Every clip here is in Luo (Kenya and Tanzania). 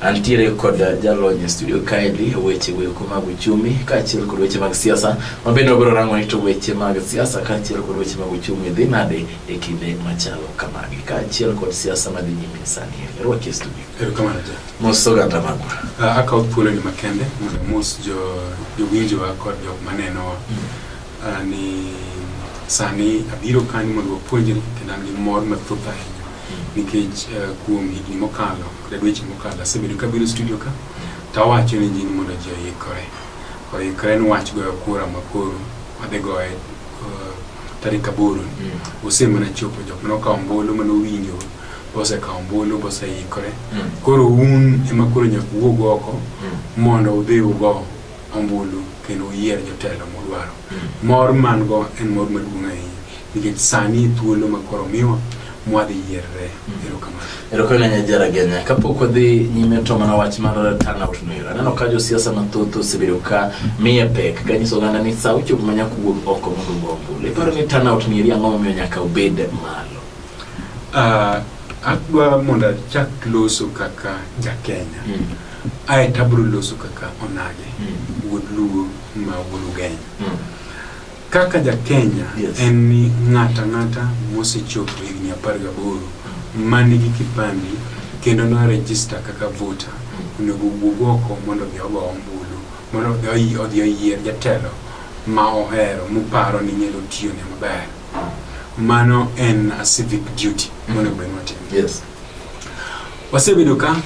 Antiere kod jalony e studio kaendi weche weko mag uchumi kaachiel kod weche mag siasa ma bende wabiro rango ni to weche mag siasa kaachiel kod weche mag uchumi dhi nade e kinde machalo kamagi kaachiel kod siasa madhi nyime sani rwaki e studio Erokamano ja. mos oganda magwa Ah, Akawo thuoloni makende mondo mos jo jowinjowa kod jok manenowa ah, ni sani abiro kanyo mondo wapuonjre kendo an gi mor mathoth ahinya nikech eh, kuom higni mokalo E dweche mokalo asebedo kabiro studio ka tawacho ne ji ni mondo ji oikore oikore ni wach goyo kura makoro wadhi goye uh, tarik aboro mm. ose mana chopo jok mane okawo ombulu mane owinjo bosekawo ombulu boseikore mm. koro un ema koro nyaka wuog oko mm. mondo udhi ugo ombulu kendo uyier jotelo mudwaro mor man go en mor maduong' ahinya nikech sani thuolo ma koro miwa mwadhi yierre mm. erokamano erokamano nya jara genya kapok wadhi nyime to mana wach mar turnout no ero aneno ka josiasa mathoth osebedo ka miye pek ka nyiso oganda ni sa ochopo ma nyaka wuog oko mondo ogo ombulu iparo ni turnout ni eri ang'o momiyo nyaka obed malo uh, adwa mondo achak loso kaka jakenya mm. ae tabro loso kaka onage mm. wuod luo ma wuod ugenya mm. Kaka ja Kenya yes. en ni ng'ata ng'ata mosechopo higni apar gaboro man gi kipande kendo no register kaka voter onego wuog oko mondo odhi ogo ombulu mondo odhi odhi oyier jatelo ma ohero moparo ni nyalo tiyo ne maber mano en a civic duty mondo obed watimo yes. wasebedo ka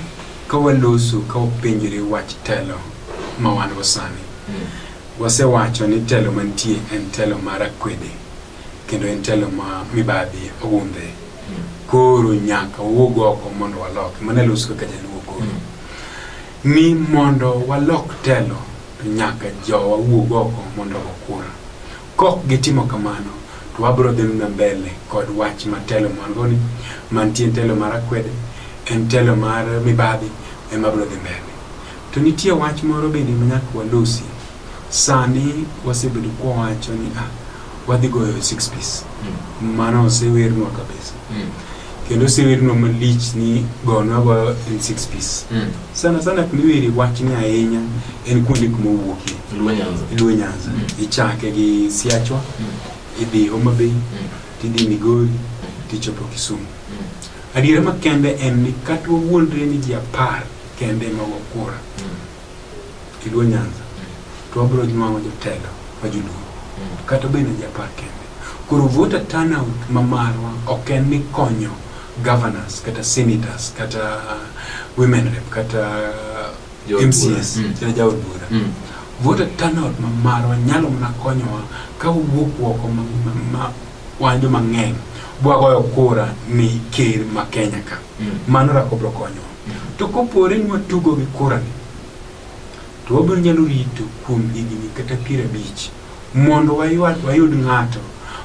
ka waloso ka wapenjore wach telo ma wan go sani mm. Wasewacho ni telo mantie en telo mar akwede kendo en telo ma mibadhi ogundhe. Koro nyaka wawuog oko mondo walok. Mano e loso kaka jaluo koro. Ni mondo walok telo to nyaka jowa wuog oko mondo ogo kura. Kok gitimo kamano to wabiro dhi mna mbele kod wach ma telo margo ni mantie telo mar akwede en telo mar mibadhi ema biro dhi mbele. To nitie wach moro bende ma nyaka walosi. Sani wasebedo kwawacho ni ah, wadhi goyo six piece. Mm. Mano osewernwa kabisa. Mm. Kendo osewernwa malich ni gonwa goyo en six piece. Mm. Sana sana kumiweri wachni ahinya en kuonde kuma owuokie. Luo Nyanza. Luo Nyanza. Mm. Ichake gi Siachwa, mm. idhi Homa Bay, mm. tidhi Migori, mm. tichopo Kisumu. Mm. Adiera makende en ni kata wawuondre ni ji apar kembe mag okura kiluo nyanza to wabiro nwango jotelo ma joluo kata bende japar kembe koro voter turnout ma marwa ok en ni konyo governors kata senators kata uh, women rep kata uh, mcs mm. kata jaod bura mm. voter turnout ma marwa nyalo mana konyowa ka wuok woko ma, ma, ma wan joma ng'eny bwagoyo kura ni ker ma Kenya ka mm. mano rako bro konyo mm. to kopore ni watugo gi kura ni to wabiro nyalo rito kuom higni kata piero abich mondo wayud ng'ato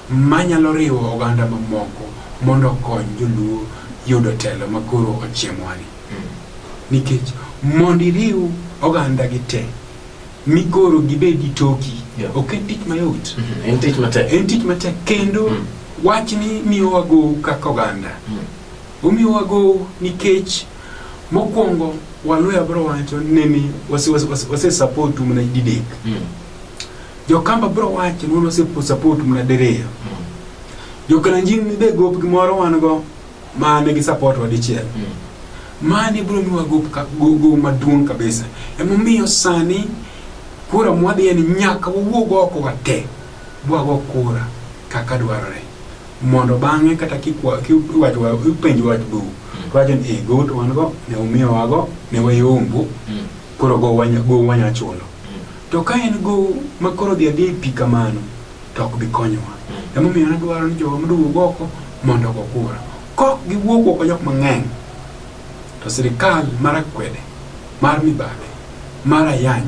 manyalo riwo oganda mamoko mondo okony joluo yudo telo ma koro ochiemwani mm. nikech mondo iriw oganda gi te migoro gibedi toki yeah. ok en tich mayot mm -hmm. en tich matek en tich matek kendo mm. wach ni miyowa gow kaka oganda mm. omiyowa gow nikech mokwongo waluya bro wacho nini wase support mna didek mm. jokamba bro wacho ni wase support mna dereyo mm. jokalanjin ni de gop gimoro wan go ma nigi support wa dichiel mani biro miwa gogo maduong' kabisa emomiyo sani kura mwadhi en nyaka wawuog oko wate bwago kura kaka dwarore mondo bang'e kata kipenj wach bu wacho ni eh, go to wan go ne umiyo wago ne wayombo koro go wanyachulo to ka en go makoro dhi adhi pi kamano to ok bi konyowa. Emomiyo nadwaro ni jowa mondo owuog oko mondo ogo kura. Kok giwuog oko jok mang'eny to sirikal mar akwede mar mibadhi mar ayany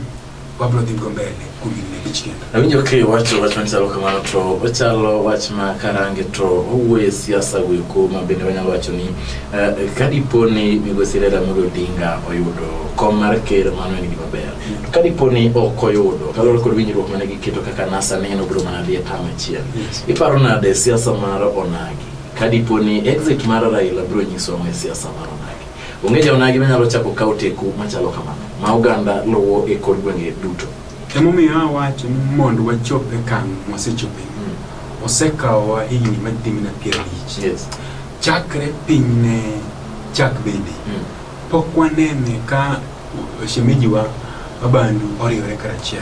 wabiro dhi go mbele kuom higni abich kendo. Awinjo ka iwacho wach machalo kamano to ochalo wach ma karange to owuoye siasa goeko ma bende wanyalo wacho ni eh, ka dipo ni migosi Raila Amolo Odinga oyudo kom mar ker mano en gima ber. ka dipo ni ok oyudo kaluwore kod winjruok mane giketo kaka nasa neno biro mana dhi e tam achiel iparo nade siasa mar onagi ka dipo ni exit mar raila biro nyiso ang'o e siasa mar onagi onge ja onagi manyalo chako kawo teku machalo kamano ma oganda luwo e kor gwenge duto emomiyo awacho ni mondo wachop e kang' mwasechope osekawowa higni madhi mana piero abich yes chakre piny ne chak bende Mm. pok wanene ka shemejiwa abandu oriwore karachiel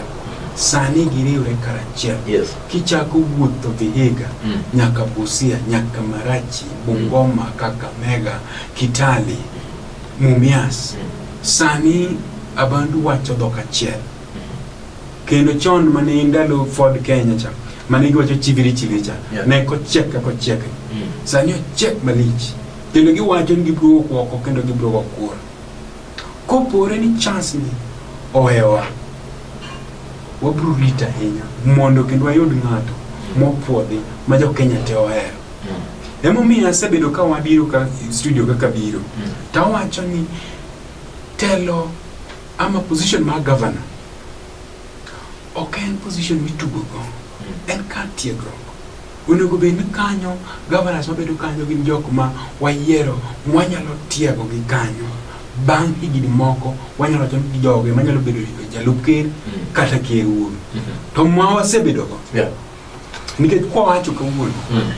sani giriwre karachiel yes. kichako wuotho vihiga mm. nyaka busia nyaka marachi mm. bungoma mm. kakamega kitali mumias mm. sani abandu wacho dhok achiel mm. kendo chon mane ndalo ford kenya cha mane giwacho chiviri chiviri cha yeah. ne kochiek ka kochiek mm. sani ochiek malich kendo giwacho ni gibiro wok oko kendo gibiro wok kuor Kopore ni chance ni owewa, wabro rito ahinya mondo kendo wayud ng'ato mopwodhi ma jo Kenya te ohero. Emomiyo asebedo ka wabiro ka studio kaka biro to awacho ni telo ama position mar governor ok en position mitugo go, en kar tiegruok. Onego bed ni kanyo governors mabedo kanyo gin jok ma wayiero mwanyalo tiego gi kanyo. Bang' higni moko wanyalo wacho ni joge manyalo bedo jalup ker mm. kata ker wuon. Mm-hmm. To ma wasebedo go. Nikech kwa wacho kawuono mm.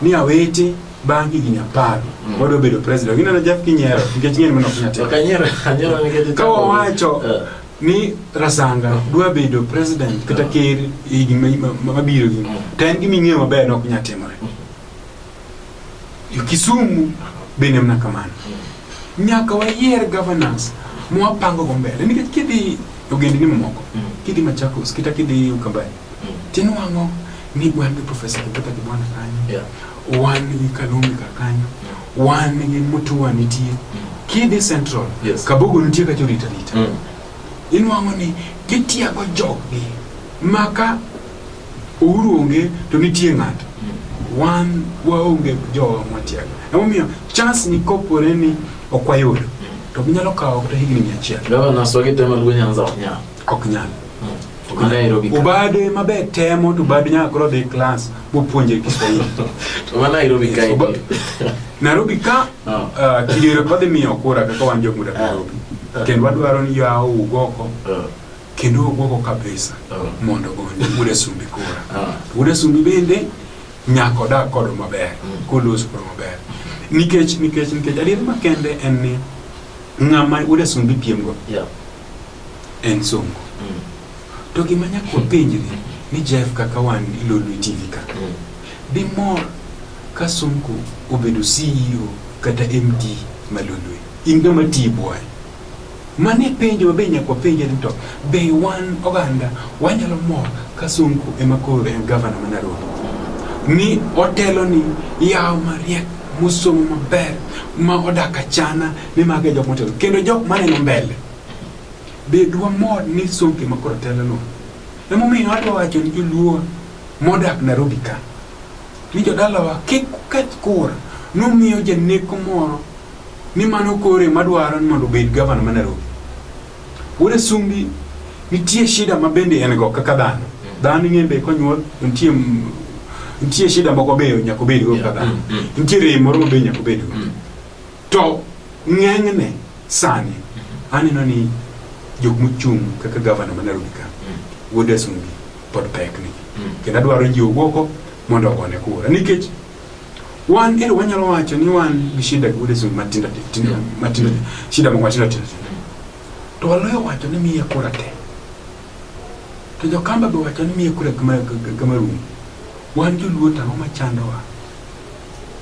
ni awete bang' higni apar mm. wadwa bedo president. Gineno Jeff Kinyero nikech ng'eny mana ok nyatelo. Ka wawacho eh. ni Rasanga dwa bedo president kata ker e higni ma- ma- ma- mabiro gi to en gima ing'eyo maber ni ok nyal timore Jo Kisumu bende mana kamano nyaka wayier governance mwapango go mbele nikech kidhi e ogendni mamoko kidhi Machakos kata kidhi Ukambani tinwang'o ni wan gi profesa Kibwana kanyo Yeah. wan gi Kalumi kar kanyo, wan gi Mutua nitie, Kidi Central, Yes. Kabogo nitie ka jorita rita. Mm. Inwang'o ni gitiago joggi ma ka Uhuru onge to nitie ng'ato. Wan waonge jowa mwatiago. Emomiyo chance ni kopore ni ok wayudo to ginyalo kawo kata higni mia achiel. Gavana Swagi tema Luo Nyanza Wanyama. ok nyal obade maber temo to bad nyaka koro dhi klas bopuonje kiswahili nairobi ka ah. ah, kidero kodhi miyo kura kaka wan jomuda ah. nairobi kendo wadwaro ni yawo ugoko kendo ugoko kabisa mondo ogonde muda sumbi kura muda sumbi bende nyaka odag kodo maber mm. kolos kodo maber nikech nikech nikech adier makende en ni ng'ama uda sumbi piemgo en songo mm. to gima nyaka wapenjri ni jeff kaka wan ilolwe tv ka mm. dimor ka sonko obedo ceo kata md malolwe in gama tii bwaye mane penjo mabe nyaka wapenje ni to be wan oganda wanyalo mor ka sonko ema koro en gavana ma nairobi ni otelo ni yawo mariek mosomo maber ma odak achana ni mago e jok motelo kendo jok maneno mbele Bed wamor ni Sonke ma koro telono. Emomiyo adwa wacho ni joluo modak Nairobi ka ni jodalawa kik uketh kura nomiyo janeko moro ni mano kore madwaro ni mondo obed gavana ma Nairobi. Wuod Asumbi nitie shida ma bende en go kaka dhano. Dhano ing'e be konyuol nitie nitie shida moko be nyaka obedgo kaka dhano. Nitie rem moro ma be nyaka obedgo. To ng'enyne sani aneno ni jok mochung' kaka gavana ma Nairobi ka wuod Asungi pod pek ni kendo adwaro jiwo gogo mondo ogone kura nikech wan ero wanyalo wacho ni wan gi shida gi wuod Asungi matindo tindo matindo shida moko matindo tindo to waloyo wacho ni miye kura te to jokamba be wacho ni miye kura kama kama rum wan joluo to ang'o machandowa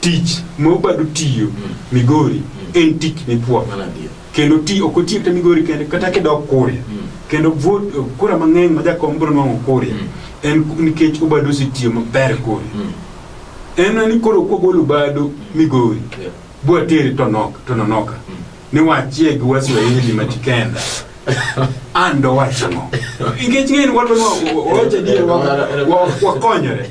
tich ma obadu tiyo mm. migori mm. en tich mipwo kendo ti ok otiyo kata migori kende kata kidok kuria mm. kendo vote kura mang'eny ma jakom biro nwang'o kuria mm. en nikech obadu osetiyo maber kuria mm. en ni koro kogolo obadu mm. migori yeah. bwatere tonoka tononoka mm. niwachie gi waswahili matikenda ando wachang'o nikech ng'eni wadwa wawacha dier wakonyore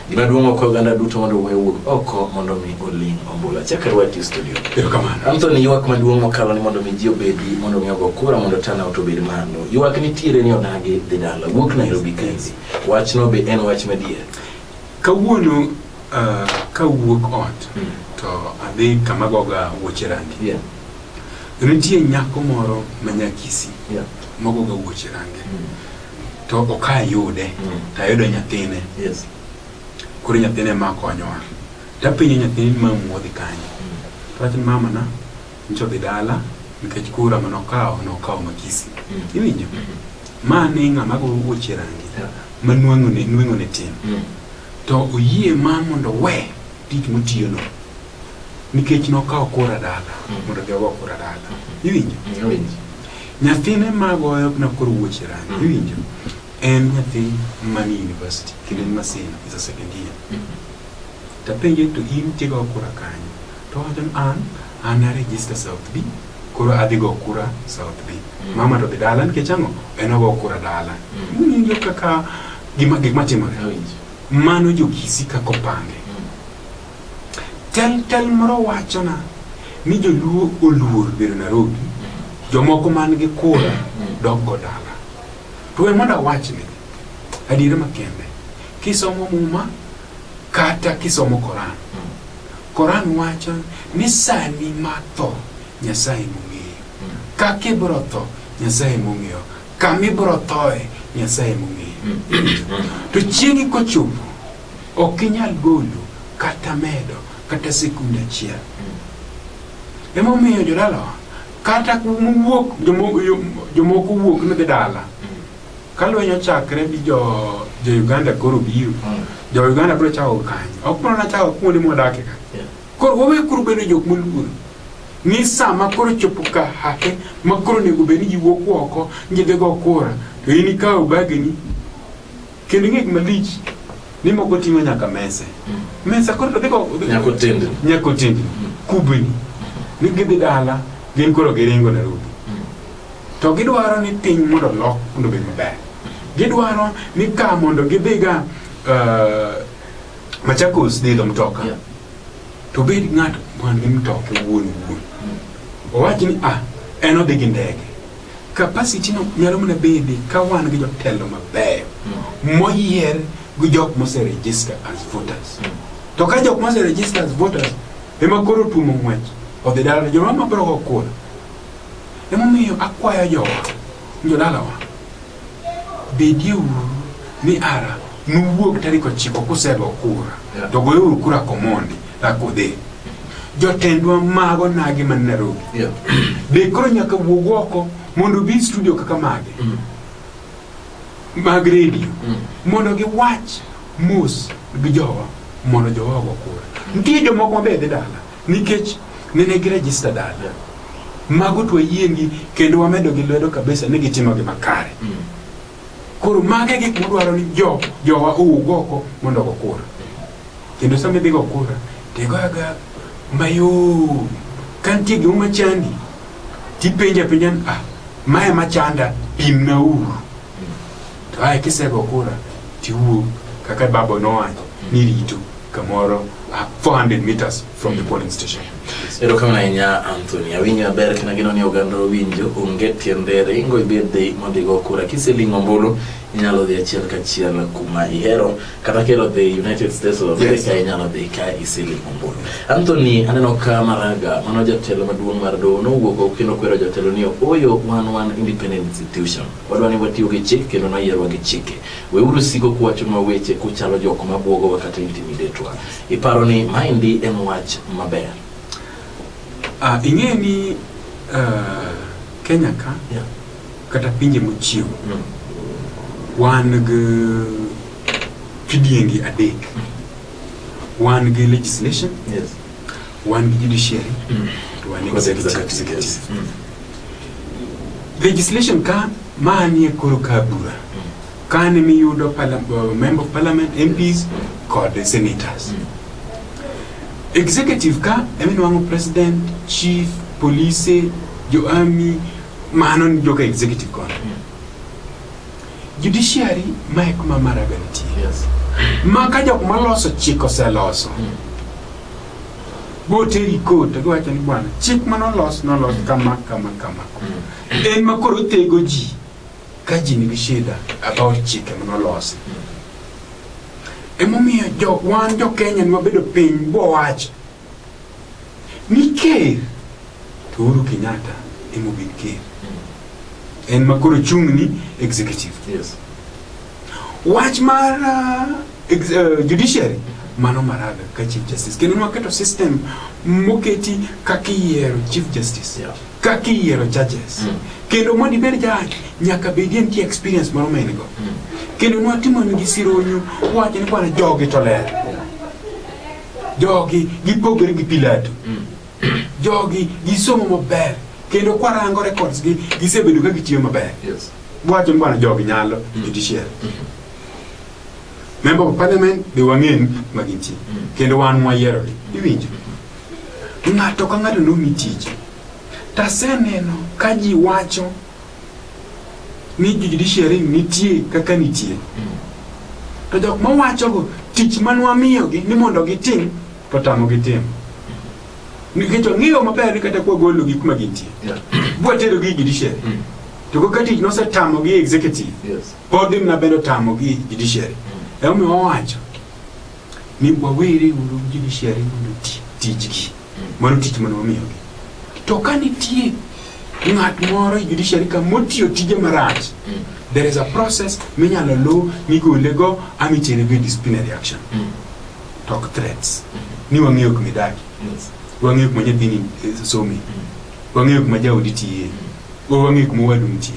Gima duong' ok oganda duto mondo wuoyo wuog oko mondo mi oling ombula. Chaka rwati e studio. Erokamano. Anthony ywak maduong' mokalo ni mondo mi ji obedi mondo mi ogo kura mondo turnout obed malo. Ywak nitiere ni odagi dhi dala. Wuok Nairobi kaendi. Wachno be en wach madier. Kawuono uh, kawuok ot mm. to adhi kama goga wuoche rangi. Yeah. Nitie nyako moro manyakisi. Yeah. Mogoga wuoche rangi. Mm. to ok ayude mm. to ayudo nyathine yes. koro nyathine ma konyowa tapenyo nyathini ma muodhi kanye mm. wachni mama na nyicha odhi dala nikech kura ma nokawo nokawo makisi mm. iwinjo mm -hmm. ma ni ng'ama gogoche rangi yeah. ma nweng'one nweng'one tin mm. to oyie ma mondo we tich motiyono nikech nokawo kura dala mm. mondo odhi ogo kura dala mm. iwinjo mm. Nyathine magoyo na koro wuoche rangi mm. iwinjo en nyathi mani university kendo en maseno is a second year mm. tapenje to in tigo kura kanyo to wacho an an a register south b koro adhi go kura south b mm. mama to dhi dala nikech ang'o en ogo kura dala winjo kaka gima gik matimore mano jokisi kaka opange Tel tel moro wachona ni joluo oluor bedo Nairobi, jomoko man gi kura doggo dala. To we mondo awachni adiera makende, kisomo muma kata kisomo Koran, Koran wacho ni sani ma tho Nyasaye mong'eyo, kaka ibiro tho Nyasaye mong'eyo, kama ibiro thoe Nyasaye mong'eyo. To chieng'i kochopo Ok inyal golo kata medo kata sekund achiel. Emomiyo jodalawa kata kuwuok jomoko wuok ni dhi dala ka lweny ochakre gi jo jo Uganda koro biro jo Uganda biro chako kanyo ok mana nachako kuonde mwadakie ka koro wawe koro bedo jok moluor ni sama koro chopo ka hake ma koro onego bed ni ji wuok oko ni ji dhi go kura to in ikawo bageni Kendo ing'e gima lich ni moko ting'o nyaka mese. Mm. Mesa koro to dhiko nyako tindi. Nyako tindi. Mm. Kubini. Ni gidhi dala gin koro giringo Nairobi. Mm. To gidwaro ni piny mondo lok mondo obed maber. Gidwaro ni ka mondo gidhiga uh, Machakos dhi idho mtoka. Yeah. To bed ng'ato man gi mtoka wuon wuon. Owachi ni ah en odhi gi ndege. Capacity no nyalo mana bede ka wan gi jotelo mabeyo mm. moyier gi jok mose register as voters. Mm. To ka jok mose register as voters ema koro tumo ng'wech odhi dala joma mabiro go kura. Emomiyo akwayo jowa jodalawa Bedieuru ni ara nuwuog tarik ochiko kusego kura to goyeuru kura komondi rakudhi jotendwa mago nagi man Nairobi yeah. be koro nyaka wuog oko mondo bi studio kaka mage mm. mag redio mm. mondo giwach mos gi jowa mondo jowa ogo kura mm. nitie jomoko mabe dhi dala Nikech nene gi register dala. Mago to yiengi kendo wamedo gi lwedo kabisa ni gitimo gi makare. Mm. Koro mage gik modwaro ni jo jowa owuog oko mondo go kura. Kendo sama idhi go kura, tigoyaga mayom. Ka nitie gima machandi, tipenja penja, ah, mae machanda, pimna uru. To ae kisego kura tiwuog kaka babo nowacho ni rito kamoro ah, 400 meters from the polling station. Erokamano ahinya Anthony. Awinjo maber kendo ageno ni oganda owinjo onge tiende ringo ibed dhi mondo igo kura. Kiseling' ombulu inyalo dhi achiel kachiel kuma ihero kata kelo dhi United States of Yes. America inyalo dhi ka iseling' ombulu. Anthony aneno ka Maraga mano jatelo maduong' mar doho nowuok oko kendo kwero jotelo ni oyo wan wan independent institution. Wadwa ni watiyo gi chik kendo noyierwa gi chike. Weuru siko kuwachonwa weche kuchalo jok ma bwogowa kata intimidetwa. Iparo ni maendi en wach maber? Ah, ing'e ni ah, Kenya ka Yeah. kata pinje mochiew Mm. wan gi kidiengi adek. Wan gi legislation, Yes. Wan gi judiciary mm. to wan gi executive. Mm. Legislation ka manie koro ka bura mm. kane miyudo uh, member of parliament MPs kod senators mm. executive ka eminwango president chief police jo army mano ni joka executive kono mm. judiciary mae kuma maraga nitie yes. ma ka jok maloso chik oseloso mm. boteri kot to giwacho ni bwana chik mane olos nolos kama kama kama en ma koro otego ji ka ji nigi shida about chike mane olosi emomiyo jo, wan jo kenya ne wabedo piny bowacho ni ker to uhuru kenyatta emobed ker en ma koro chung'ni executive Yes. Wach mar uh, uh, judiciary mano maraga ka chief justice kendo nwaketo system moketi kaka iyiero chief justice yeah. kaka iyiero judges mm. kendo mondo ibed judge nyaka bedie nitie experience moro ma in go mm. kendo nwatimoni sironyu wacho ni kwana jogi to ler jogi gipogore gi pilato mm. jogi gisomo maber kendo kwarango records gi gisebedo ka gitiyo maber Yes. wacho ni bwana jogi nyalo judiciary member of parliament be wang'eni ma gintie kendo wan mwayierogi iwinjo ng'ato ka ng'ato nomi tich taseneno ka ji wacho ni judiciary nitie kaka nitie to jok mawachogo tich manwamiyogi ni mondo gitim to tamogi timo nikech ong'eyo maber ni kata kwa golo gik ma gintie bwa tero gi judiciary mm. to go kati no se tamo gi executive yes pod na bedo tamo gi judiciary mm. emo mi owacho ni bwa wiri uru judiciary mondo tich gi mm. mano tich mano omiyo gi to ka nitie ng'at moro e judiciary ka motiyo tije marach mm. there is a process minyalo luw migolego amitere go e disciplinary action mm. talk threats ni wang'eyo kuma idaki wang'eyo kuma nyathini eh, some wang'eyo kuma jaodi tiye bo wang'eyo kuma wadu nitie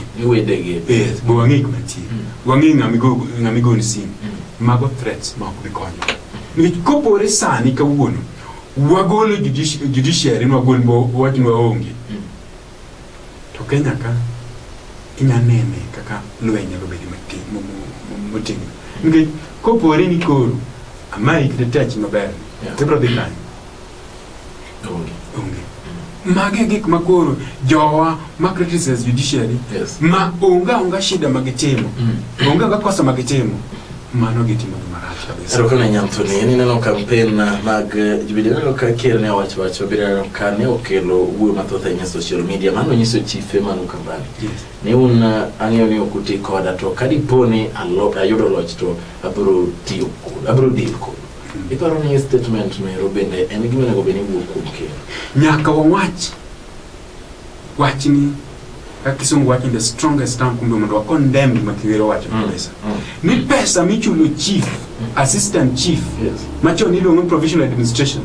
yes bo wang'eyo kuma nitie wang'eyo ng'ama igoni sim mago threats ma ok bi konyo nikech kopore sani kawuono wagolo judiciary nwagol wach nwaonge To Kenya ka inya nene kaka lweny nyalo bedo mati- mo- mo- mo- motegno nikech kopore ni koro amayi kata tachi maber Yeah. tibro dhi kanye Onge. onge magi e gik ma koro jowa ma criticize judiciary Yes. ma onge onga shida magitimo Mm. onge onga kosa magitimo Mano gitimoni marach kabisa. Erokamano Nyanthuni, en ineno kampen mag Jubilee ineno ka ker ne owacho wacho biro ka ne okelo wuoyo mathoth ahinya e social media mano nyiso chife mano kambani Yes. ni un uh, ang'eyo ni ok uti koda to ka dipo ni alo- ayudo loch to abiro tiyo kodu abiro deal kodu iparo ni statement no ero bende en gima onego bed ni wuok kuom ker Nyaka wawach wachni ka kisungu wacho the strongest term kumbe mondo condemn gima kiwero wacho mm. kabisa mm. ni pesa michulo chief mm. assistant chief yes. machon iluongo provisional administration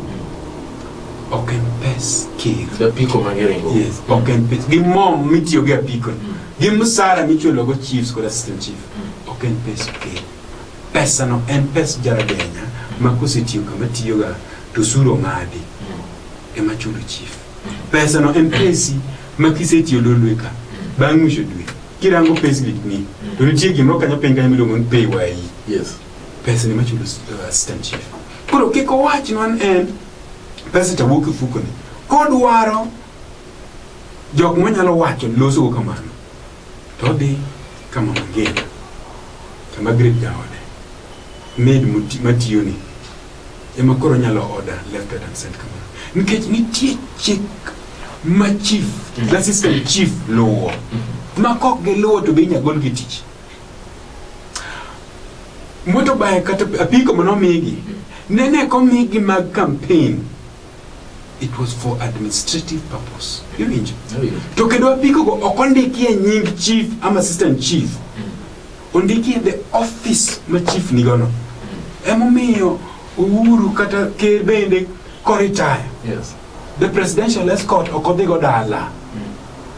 ok en pes kir apiko mangeringo yes mm. ok en pes gi mom mitiyo gi apiko mm. gi msara michulo go chiefs kod assistant chief mm. ok en pes kir pesa no en pes jaragenya ma kosetiyo kama tiyoga to suro ng'adi mm. ema chulo chief Pesano en pesi ma kisetiyo dolweka bang' ng'isho dwe kirango payslip ni to nitie gimoro kanyo piny kanyo miluongo ni pay wayi yes pesa ni machulo uh, assistant chief koro kik owach non en pesa to wuok e fukoni kodwaro jok manyalo wacho losogo kamano to odhi ka mama ngina to Margaret jaode maid moti- matiyoni ema koro nyalo order left right and center kamano nikech nitie chik ma chief mm. the system chief luwo mm. ma kok giluwo to be inya gol gi tich motorbike kata apiko mano migi mm. nene komigi mag campaign It was for administrative purpose. Iwinjo? To kendo apiko go ok ondikie nying chief ama assistant chief. Ondikie the office ma chief nigo no. Emomiyo Uhuru kata ker bende koritaya. Yes. The presidential escort ok odhi go dala.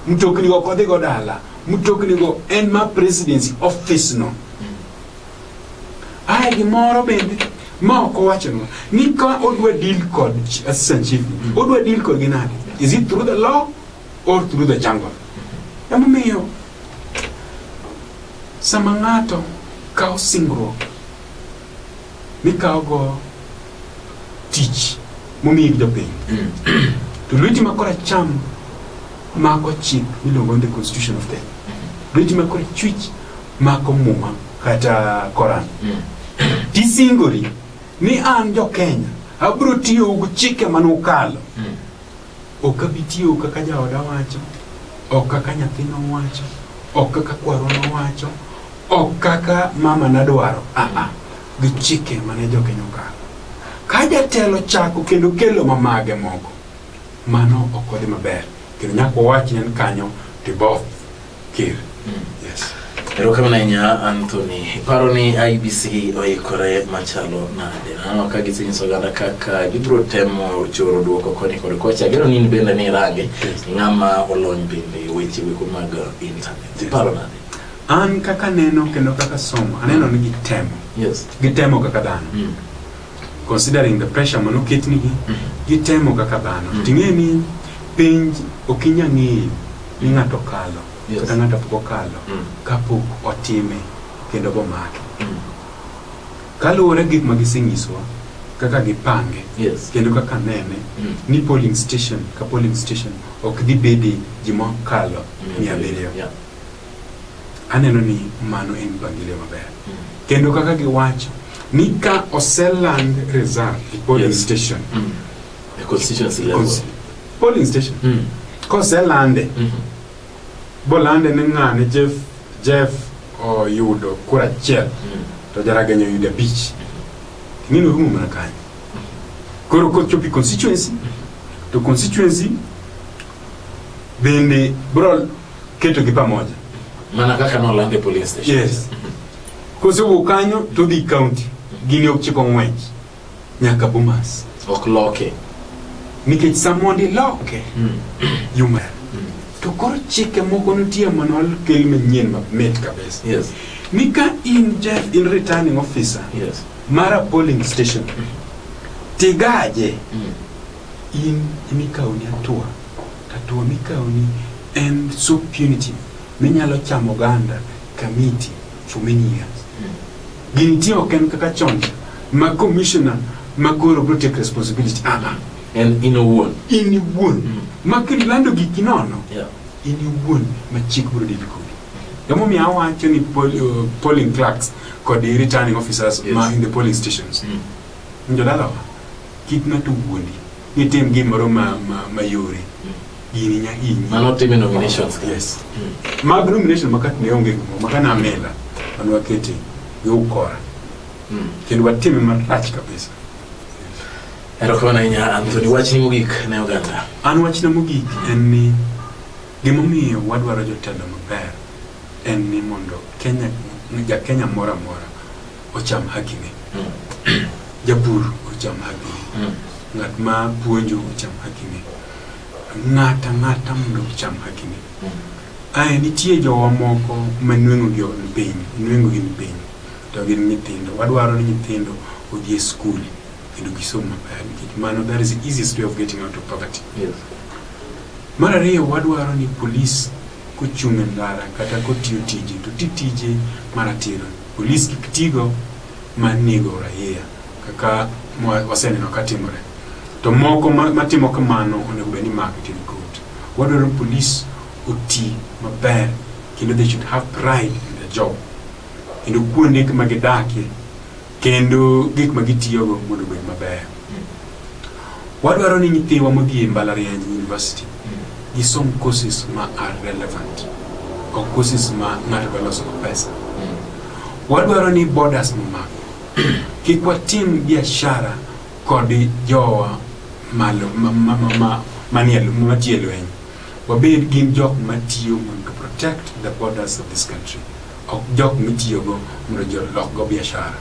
Mm. Mtokni go ok odhi go dala. Mtokni go en ma presidency office no. Ae gimoro bende ma ok owachonwa ni ka odwa deal kod ch- assistant chief ni, odwa deal kod gi nade is it through the law or through the jungle emomiyo sama ng'ato kawo singruok mikawogo tich momiyi gi jopiny to lweti ma koracham mako chik miluongo ni the constitution of kenya lweti ma korachwich Mako Muma kata Koran. Mm. Tisingori ni an jo Kenya abro tiyo gi chike mane ukalo. Mm. Ok abi tiyo kaka jaoda wacho, ok kaka nyathina wacho, ok kaka kwaro wacho, ok kaka mama nadwaro. Ah ah. Gi chike mane jo Kenya okalo. Ka jatelo chako kendo kelo mamage moko, mano ok odhi maber. Kendo nyaka wawach ne kanyo tiboth. Ker. Yes. Erokamano ahinya Anthony. Iparo ni IBC oikore machalo nade? Naneno ka gisenyiso oganda kaka gibiro temo choro duoko koni kod kocha. Ageno ni in bende ni irange ng'ama olony bende e weche weko mag internet. Iparo nade? An kaka neno kendo kaka somo, aneno ni gitemo. Yes. Gitemo kaka dhano. Mm. considering the pressure mano ketnigi gitemo kaka dhano mm. ting'e ni penj ok inya ng'eyo ni ng'ato kalo yes. kata ng'ato pok okalo mm. kapok otime kendo bomake mm. kaluwore gik ma gisenyisowa kaka gipange yes. kendo kaka nene mm. ni polling station ka polling station ok dhi bedi ji mokalo mm. mia abiriyo yeah. aneno ni mano en mpangilio maber mm. kendo kaka giwacho Ni ka oseland result e polling Yes. station. Mm. A constituency level. Cons- Polling station. Mm. Koselande, Mhm. bolande ni ng'ane Jeff, Jeff oyudo kura achiel Mm. to Jaraganyo oyudo abich. Ng'ino rumo mana kanyo. Koro kochopi constituency, to constituency bende bro keto gi pamoja. Mana kaka nolande police station. Yes. Kosewuok kanyo to odhi kaunti, gini ok chiko ng'wech nyaka Bomas. Ok loke. Nikech sa mondo iloke, hmm. yuma. Hmm. To koro chike moko nitie mondo okel manyien mamit kabisa. Yes. Ni ka in Jeff, in returning officer yes. mar a polling station, hmm. tigaje in imikaoni atua, atua mikaoni en so punitive Minyalo chamo oganda kamiti for many years. Gintie ok en kaka chon ma commissioner ma koro bro take responsibility. Ah, ah. En in owuon. In iwuon. Mm. Ma kilando giki nono. Yeah. In iwuon ma chik bro dil kodi. Emomiyo awacho ni pol, uh, polling clerks kod the returning officers yes. ma in the polling stations. Mm. Njodalawa, kik ng'ato wuondi. Nitim gimoro ma, ma, ma yore. Mm. iri nya inyi mano time nominations yes mm. mag nomination makat ne onge gimo maka na mela mano wakete gi ukora mm. kendo watime marach kabisa erokamano ahinya anthony wachni mogik ne oganda an wachna mogik en ni gimomiyo wadwaro jotelo maber en ni mondo kenya ja kenya moro amora ocham hakine, japur ocham hakine, ng'at ma puonjo ocham hakine, ng'ata ng'ata mondo ocham hakine. Ae nitie jowa moko ma nweng'o gi ni piny, nweng'o gi ni piny, to gin nyithindo. Wadwaro ni nyithindo odhi e skul kendo gisom maber nikech mano that is the easiest way of getting out of poverty. Yes. Mar ariyo wadwaro ni polis kochung' e ndara kata kotiyo tije to ti tije maratiro. Polis kik tigo ma nego raia kaka waseneno ka timore. To moko matimo kamano onego bed ni mako to kot. Wadwaro polis oti maber kendo they should have pride in their job. Kendo kuonde ma gidakie kendo gik ma gitiyogo mondo obed maber. Wadwaro ni nyithiwa modhi e mbalariany university gisom courses ma are relevant ok courses ma ng'ato dwa loso pesa. Wadwaro ni borders momak kik watim biashara kod jowa malo manie matie lweny wabed gin jok matiyo mondo protect the borders of this country ok jok mitiyogo mondo jolokgo biashara.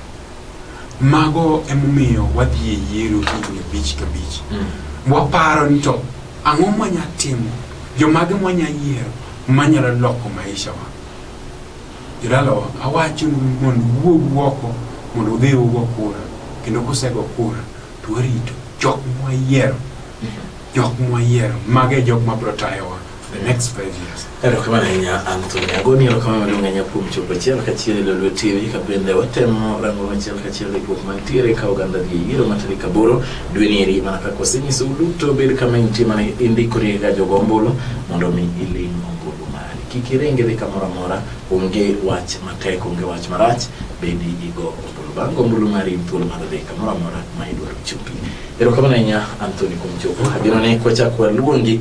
Mago emomiyo wadhi e yiero higni abich kabich. Mm. Waparo ni to ang'o mwanya timo, jomage mwanya yiero manyalo loko maisha wa. Jodala awacho mondo wuog woko mondo udhi ugo kura kendo kusego kura to warito jok mwayiero mm-hmm. jok mwayiero mago e jok mabiro tayowa the next five years. Erokamano ahinya Anthony Agoni, erokamano maduong' ahinya kuom chopo achiel kachiel e Lolwe TV ka bende watemo rango achiel kachiel riwruok mantiere ka oganda dhi e yiero ma tarik aboro dwe ni eri mana kaka osenyiso duto bed kama intie mana indikori ga jogo ombulu mondo mi iling' ombulu mari kik iringi dhi kamoro amora onge wach matek onge wach marach bedi igo ombulu bang' ombulu mari in thuolo mar dhi kamoro amora ma idwaro chopi erokamano ahinya Anthony kuom chopo ageno ni kwachak waluongi